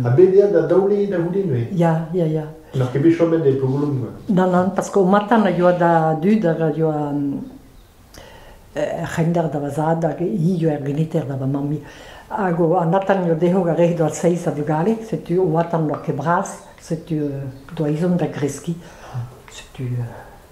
Ha bet eo da daolet da c'houde neuze? Ya, ya, ya. N'oc'h ket bet chomet e Plougolon koa? Non, non, parce qu'au matin a yoa da dud hag a yoa er c'hender da va zad hag hi yoa er geniter da va mammi. Hag an atan eo dezho gant re doa seiz a vugale, setu au atan n'oa ket bras, setu doa izom da greski, setu...